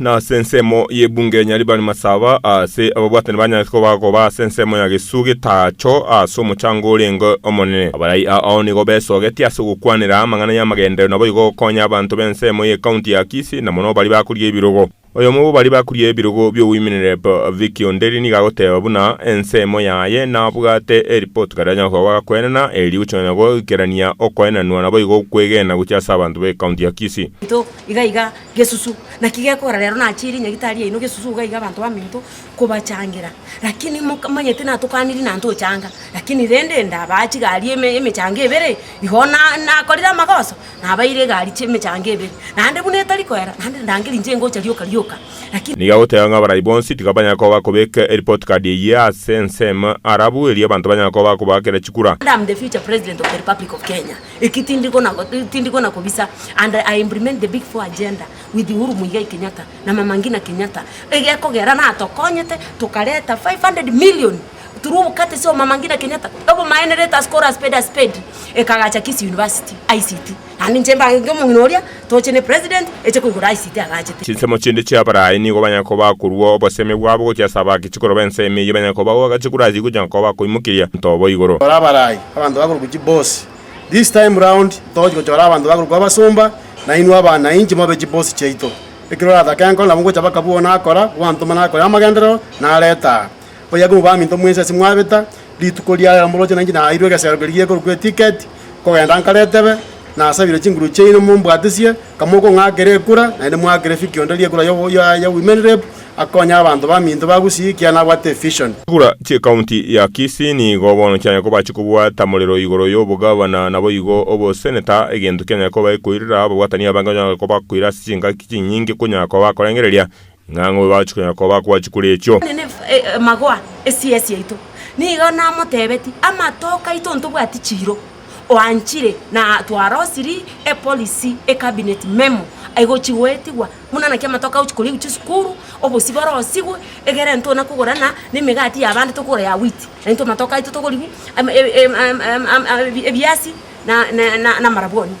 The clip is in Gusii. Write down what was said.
Nase ensemo y'ebunga enyia ribare masaba aase, ababwatani banyanchete koba agoba ase ensemo ya gesuku getaacho ase omochango orenge omonene. Abarai ao nigo besogetie ase ogokwanera amang'ana y'amagenderero naboigo gokonya abanto b'ensemo y'Ekaunti ya Kisii na mono baria bakuria ebirogo. Oyomo bw'abaria bakuria ebirogo bi'oboimenerep, Vicky Onderi nigo agoteba buna ensemo yaye nabwate eripoti karia anyare koba agakwenana eri rigochia nonya goikerania okoenanwa naboigo okwegena gochia ase abanto b'Ekaunti ya Kisii. Into iga iga Gesusu. Naki gekogera rero nachie ere nyagitari yaino gesusu iga iga abanto baminto kobachangera. Lakini moka manyete natokaniri na ntochanga, lakini rende ndabaha chigari eme emechango ebere, igo na nakorire amagoso nabaeire egari chia emechango ebere. Naende buna etari koera, naende ndangeri inche ngocha rioka rioka, lakini. Nigo agoteba ng'a abarai bonsi tiga banyare koba bakobeka eripoti kadi eyio ase ensemo, arabu erio abanto banyare koba bakobaakera chikura. And am the future president of the republic of Kenya. Eki tindi kona tindi kona kobisa and I implement the big four agenda with Uhuru Muigai Kenyatta na Mama Ngina Kenyatta egekogera natokonyete tokareta 500 million through obokatesi bwa Mama Ngina Kenyatta obomaene let us call a spade a spade ekagacha Kisii University, ICT, naende inche mbange omong'ina oria. Toche ne president eche koigora aisite agachete. Chinsemo chinde chia Abarayi nigo banyare koba akorua obosemi bwabo gochia ase abaake chikoro b'ense ime eyio banyare koba goaka chikoro ase igo chinyare koba akoimokeria nto obo igoro. Chora Abarayi, abanto bakorokwa chibosi. This time round togochia gochora abanto bakorokwa abasomba, na inwe abanainchi mobe chibosi chiaito. Ekero oratake enkoro nabo ngocha baka buna akora, bwantoma nakore amagenderero, nareta aa. Oyoka obo baminto mwensi ase mwabeta, rituko ria ira moroche nainche naeirwe egesero keria gekorokwa etiketi, nkogenda nkare etebe, nasabire chinguru chiaino mombwatisie, kamokong'akera ekura, naende mwakere fiki onde ri'ekura y'obo- ya- ya Women Rep, akonye abanto baminto ba Gusii ekiagera nabwate evision. Chikura chi'ekaunti ya Kisii nigo bono chianyare koba chikobwata morero igoro y'obogavana naboigo oboseneta, egento kianyare koba ekoirera ababwatani abange onyore kobakoira ase chingaki chinyinge konya koba korengereria Ng'a ng'o oyoachia konya koba akwachi kore echio? Magwa esiya siaito. Nigo namotebetie, Amatoke aito ntobwati chiiro. Oanchire na twarosiri epolicy, e cabinet memo, aigochi goetigwa buna naki amatoke agochi korigu chisukuru, obosio borosigwe, egere ntona kogora na nemegati yabande tokogora ya wheat. Naintwe amatoke aito togorigu ebiasi na amarabwoni.